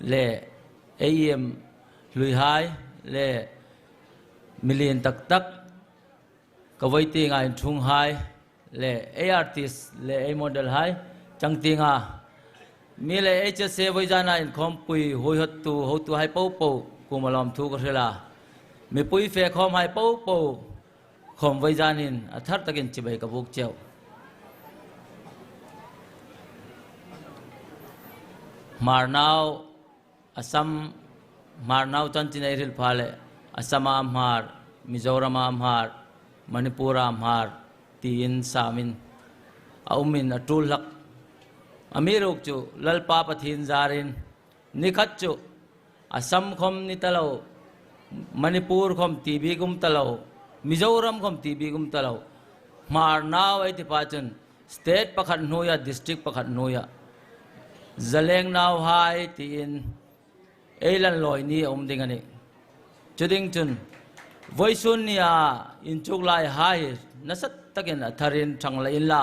leh Aiem Hluihai leh Mili'n tak tak ka vawi ti nga in Thung Hai leh ei Artist leh ei Model hai chang ti nga mi leh ei che se vawi zan a in khawmpui huaihat tu hotu hai poh poh kum alawm thu ka hrilh a mipui fe khawm hai poh poh. Khawm vawi zan in a thar tak in chibai ka buk chiau. Hmar nau a sam Hmar nau chuan Chinei ril pha leh Assam a hmar, Mizoram a hmar, Manipur a hmar tiin sam in a um in a tul hlak. A mi ruk chu Lalpa Pathin zar in, Nikhat chu Assam khawm ni ta lo, Manipur khawm ti bik um ta lo, Mizoram khawm ti bik um ta lo. Hmar nau ei ti pah chuan state pakhat hnuiah district pakhat hnuiah zaleng nau hai tiin ei lan lawi ni a awm ding a ni. Chu ding chun Voice Shunya inchuk lai hai hi nasat takin a thar in thang la in la.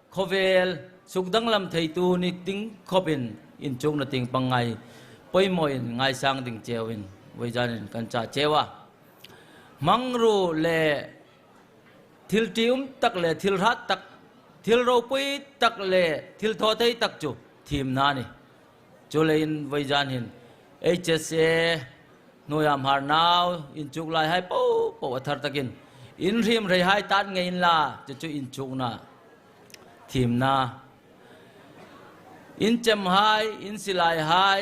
Khawvel, Suk danglam theitu ni ting khawp in inchung na ting pangngai pawimawh in ngaisang ding cheu in Voizan in kan chah cheu a. Hmangru le thil ti um tak le thil hrat tak, thil ropui tak le thil thaw thei tak chu thim hna a ni. Chu leiin Vawizanin HSA hnuaiah hmar nau inchuk lai hai poh poh a thar takin inhrim rei hai tan ngeiin la chu chu inchukna thimna inchem hai insilai hai.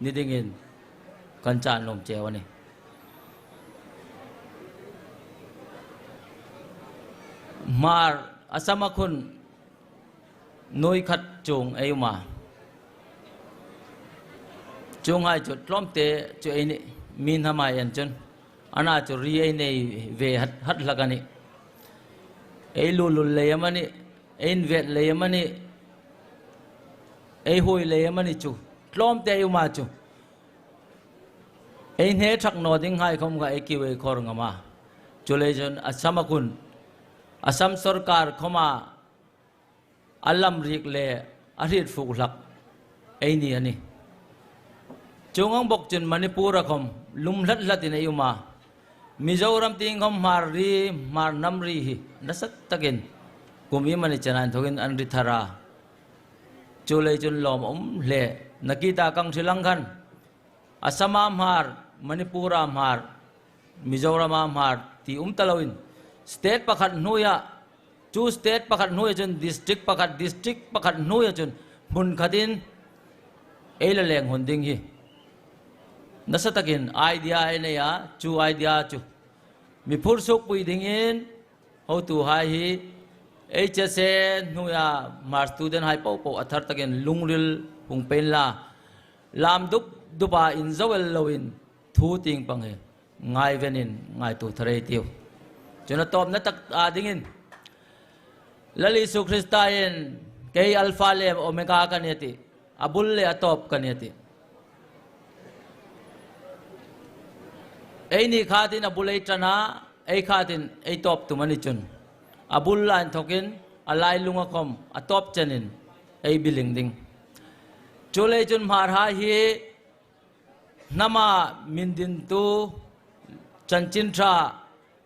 Ni dingin kan chan lawm cheu a ni. Hmar a Samakhun nui khat chung ei um a, chung hai chu tlawmte chu ei ni, mi hna hmai en chun a na chu ri ei nei ve hat hlak a ni. Ei lulul lei em a ni, ei invelh lei em a ni. Ei hui lei em ani chu. Tlawm teh iu mah chu. Ei hne chak naw ding ngaikhawm kha ei kiu ei khawr ngam a. Chu lei chuan Assam a hun, Assam sorkar khawma a lamrik leh a hrit fuh hlak ei ni ani. Chu ngang bawk chuan Manipur a khawm lum hlat hlat in ei um a. Mizoram ti inkhawm hmar ri, hmar hnam ri hi nasat takin kum im ani chana in thawk in an ri thar a. Chu lei chun lawm awm hle. Nakita Kangsilang khan Assam-a hmar, Manipur-a hmar, Mizoram-a hmar ti um ta lo in state pakhat hnui ah chu state pakhat hnui ah chuan district pakhat, district pakhat hnui ah chuan hmun khat in ei la leng hun ding hi nasa tak in idea a nei a, chu idea chu miphur suk pui ding in, Hotu hai hi HSA hnuia Mar student hai poh poh a thar takin lungril hung pain la, lam dup dupa in zoel loin thu ting pang hi ngai venin ngai tu tharei tio. Cuna tawpna tak ta dingin Lal Isu Krista in kei Alpha le Omega ka nia ti. A bul leh a tawp ka nia tih. Ei nih khat in a bul ei tan a, ei khat in ei tawp tum a ni chun. A bul line thawk in a lai lung a khawm, a tawp chen in ei biling ding. Chu lei chun hmarha hi hnama min din tu chanchin tha,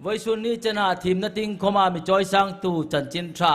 Vawisun ni chen ah thimna ting khawm ah mi chawisang tu chanchin tha,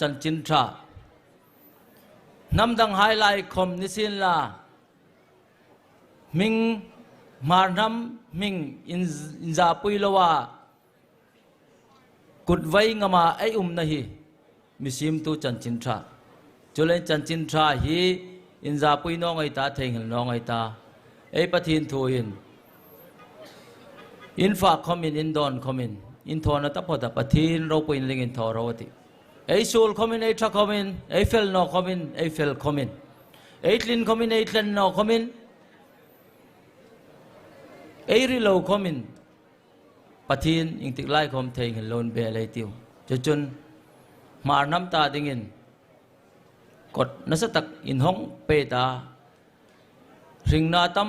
Chanchin tha hnam dang hai lai khawm ni sin la hming hmar hnam hming in in za pui lo a kut vai ngam a ei um na hi mi sim tu chanchin tha chu len chanchin tha hi in za pui nawngai ta thei nghil nawngai ta ei pathin thu in In fak khawm in, in dawn khawm in, in thaw na ta phaw tak a thil ro pawh in ling in thaw ro a ti. Ei sul khawm in, ei tha khawm in, ei fel naw khawm in, ei fel khawm in, ei tlin khawm in, ei tlen naw khawm in, ei ri lo khawm in, Pathian engtik lai khawm thei nghil lo in beh alai ti u. Chu chun hmar hnam ta ding in kawt nasa tak in hawng pet a, hring na tam,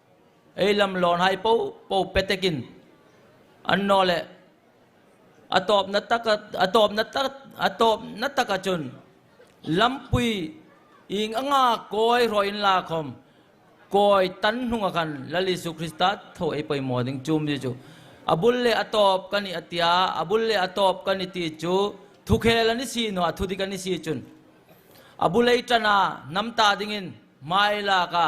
Ei lam lawnhai poh poh petekin an naw leh a tawpna taka a tawpna ta a tawpna taka chun lampui ing anga kawi hrawhin la khawm kawi tan hnunga khan Lal Isua Krista tho ei pawimawh ding chum mi chu a bul leh a tawp ka ni a tia a bul leh a tawp ka ni tih chu thukhel an i si nuah thudik an i si chun a bu lei tana hnam ta dingin hmailaka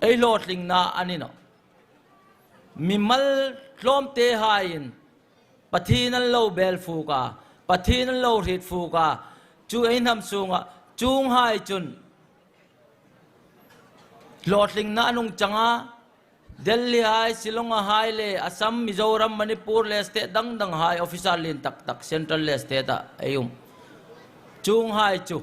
Ei hlawhtling na a ni lo. Mi mal tlawm te hai in pathin an lo bel fuk a, pathin an lo hrit fuk a, chu ei hnam sung ah chung hai chun hlawhtling na a nung chang a, Delhi hai, Shillong a hai le Assam, Mizoram, Manipur le state dang dang hai officer lin tak tak central le state ah ei um chung hai chu.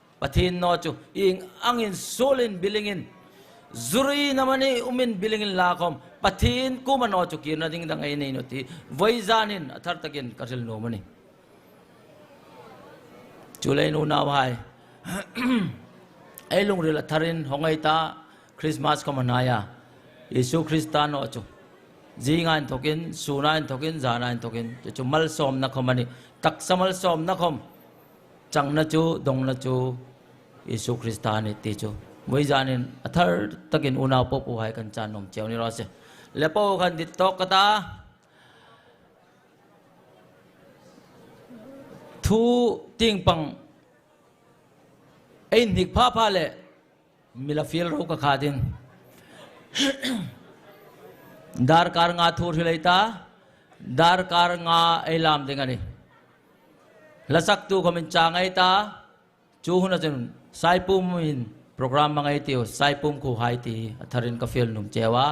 Pathian naw chu i eng angin sualin bilingin zuri na mani umin bilingin la khawm. Pathian kuma naw chu kirna ding da ngei nei nawti voi zanin a thar takin ka hril nuam a ni. Chu lei nu nau hai ei lungril a tharin hawngaih ta Christmas khawm a hnai a, Jesuh Krista naw chu zingah in thawkin, sunah in thawkin, zanah in thawkin chu chu malsawmna khawm a ni. Taksa malsawmna khawm. Changna chu, dawngna chu Isua Krista a ni tih chu mui zanin a thar takin unau pawh pu hai kan channawm cheu ni loh se. Le pawh kan dik tawk ka ta. Thu ting pang a inhnik pha pha leh. Mila fil ro ka khat in dar kar nga thur hi lei ta dar kar nga ei lam ding ani la sak tu kho min cha ngei ta chu hun achun sai pum in program ma ngei tiu sai pum khu hai ti a thar in ka fil nung cheu a.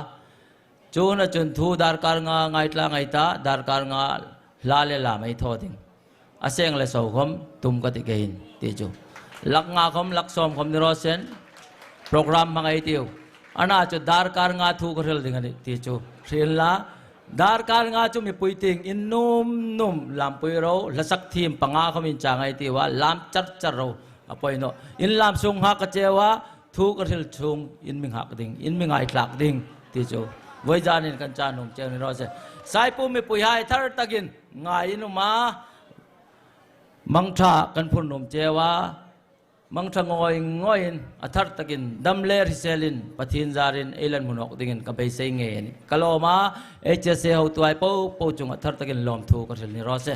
Tuna chun thu darkar nga ngaitla ngei ta, darkar nga hla leh lam ei thaw ding a seng leh sokhawm tum ka ti keiin tih chu lak nga khawm lak sawm khawm ni rawsen program hmang ei ti u. Ana chu darkar nga thu ka hrilh ding a nih tih chu hrilh la. Darkar nga chu mipui ting in num num lampui ro hlasak thim panga khawm in cha ngei ti u a lam char char ro a pawinawh in lam sung nga ka cheu a, Thu ka hril chhung in mi nghak ding, in mi ngai tlak ding ti chu vawijan in kan cha nung che ni rawh se. Saipu mipui hai thar tak in ngai in um a, mangtha kan phur num che a, mangtha ngawi ngawi in a thar tak in dam leh hrisel in Pathin zar in ei lan hmu hnawk ding in ka beisei nge ni ka lawm a, HSA hotu ai poh poh chung ah thar tak in lawmthu ka hril ni rawh se.